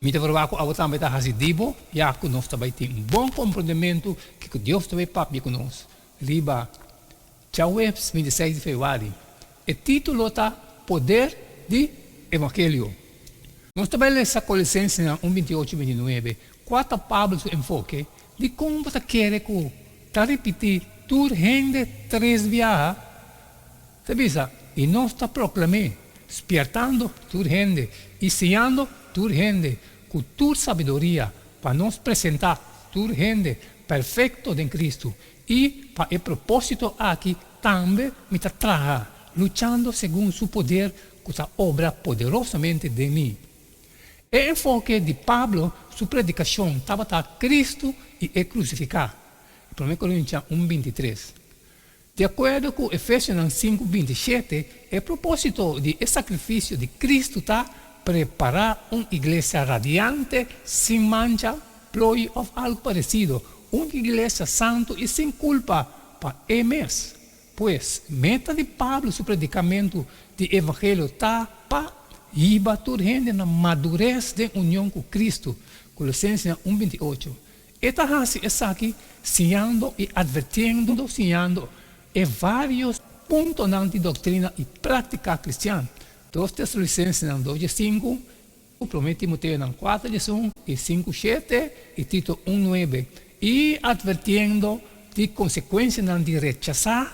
Mi ta proba ku abo tambe ta hasi di bo, ya ku nos ta bai tin un bon komprendementu kiko Dios ta bai papia ku nos. Riba Djaweps bintiseis di Februari, e título ta Poder di Evangelio. Nos ta bai lesa Colosensenan un bintiocho bintinuebe, kua ta Pablo su enfoke di kon bo ta kere ku ta ripití tur hende tres biaha. Ta bisa, i nos ta proklam'é, spièrtando tur hende i siñando tur hende ku tur sabiduria, pa nos presentá tur hende perfekto den Kristu. I pa e propósito aki tambe mi ta traha, luchando segun su poder ku ta obra poderosamente den mi. E enfoke di Pablo su predikashon tabata Kristu i e krusifiká, Promé Korintia un binti tres. Di akuerdo ku Efesionan sinku binti shete, e propósito di e sakrifisio di Kristu ta prepará un iglesia radiante, sin mancha, ploi òf algu paresido, un iglesia santu i sin kulpa pa e mes. Pues, meta di Pablo su predikamentu di evangelio ta pa yiba tur hende na madures den union ku Kristu, Kolosensenan un binti ocho. E ta hasi esaki siñando i advertiendo siñando e vários puntonan di doktrina i práktika kristian, Dos Tesalonisensenan dos dje sinku, Promé Timoteonan kuater djes un i sinku shete, i Tito un nuebe, i advertiendo di konsekuensianan di rechasá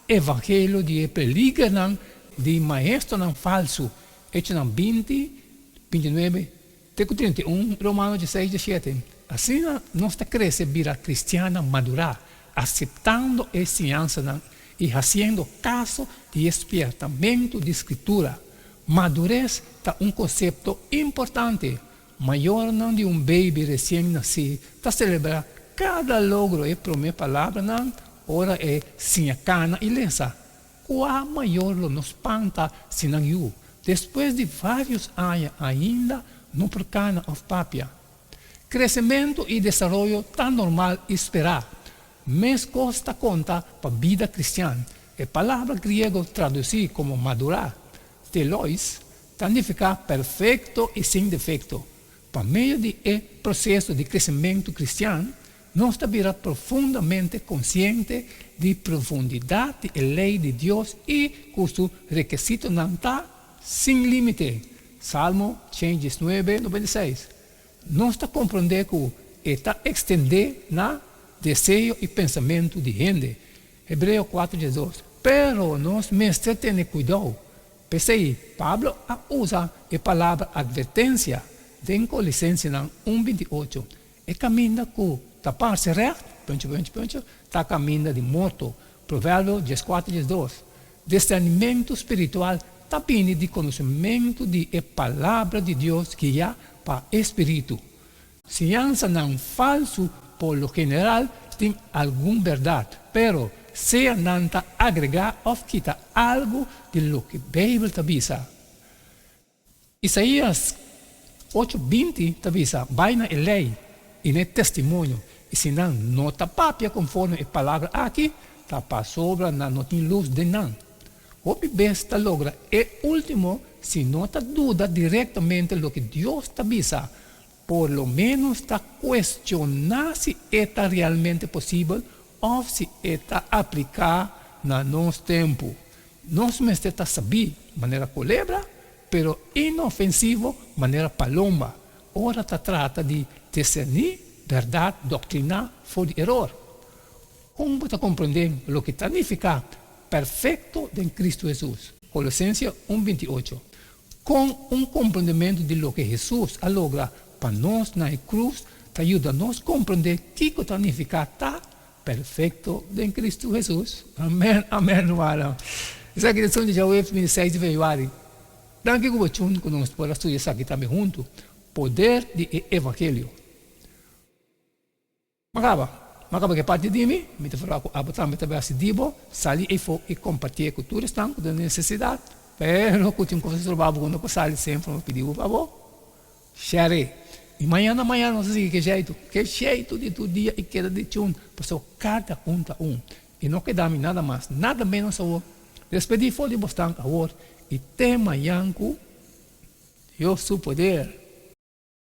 e vangelio di e peligernan di maestronan falsu, Echonan binti, binti nuebe. Te ku treinta i un, Romano diesseis, diesiete, Asina nos ta krese bira kristiannan madurá, aseptando e enseñansanan i hasiendo kaso di e spièrtamentu di Skritura. Madures ta un konsepto importante. Mayornan di un beibi resien nasí ta selebrá kada logro e promé palabranan ora e siña kana i lesa. Kua mayor lo no spanta si nan yu despues di varios aña ainda no por cana of papia? Crecemento y desaroyo ta normal y spera. Mescos ta conta pa bida cristian. E palabra griego traduci como madura, telois, ta nifica perfecto y sin defecto. Pa medio di e proceso di crecemento cristian, Nos ta bira profundamente konsiente di profundidat di e lei di Dios i ku su rekesitonan ta sin límite, Salmo cien diesnuebe nobenta i seis. Nos ta komprondé ku e ta ekstendé na deseo i pensamentu di hende, Hebreo kuater diesdos. Pero nos mester tene kuidou. P'esei Pablo a usa e palabra atvertensia den Colisensenan un binti ocho, E caminda cu ta parse recht, punch, punch, punch, ta caminda di morto, Proverbio dies cuater, dies dos. Discernimento spiritual ta bini di conocimento di e Palabra di Dios guia pa e spiritu. Siñansanan falso por lo general tin algun berdad, pero sea nan ta agrega of kita algo di loke Bijbel ta bisa, Isaías ocho binti ta bisa, Bai na e lei i na e testimonio, i si nan no ta papia konforme e palabra aki, ta pasobra nan no tin lus den nan. Hopi bes ta logra e último si no ta duda direktamente loke Dios ta bisa, Por lo ménos ta kuestioná si e ta realmente posibel òf si e ta apliká na nos tempu. Nos mester ta sabí, manera kulebra, pero inofensivo, manera paloma, ora ta trata di diserní bèrdat doktriná for di eror. Kon bo ta komprendé loke ta nifiká perfekto den Kristu Hesus? Kolosense un binti ocho, Kon un komprendementu di loke Hesus a logra pa nos na e krus ta yuda nos komprendé kiko ta nifiká ta perfekto den Kristu Hesus? Amèn, amèn, rumannan! Esaki ta e Sunde Djaweps mi di seis di febrüari. Danki ku bo tjuntu ku nos por a studia esaki tambe huntu, Poder di e evangelio. Makaba, makaba ke parti di mi, mi ta fala ku abo tambe ta bai hasi di bo, sali eyfo i kompartié ku tur esnan ku ta den nesesidat, pero ku tin kos di trobou abo ku no por sali sin for mi pidi un fabor, share, i mañana mañana nos ta sigui ke sheitu, ke sheitu di tur dia i keda di chun, pasó kada un ta un, i no keda mi nada mas, nada menos awor, despedí for di bosnan awor i te mañan ku Dios su poder.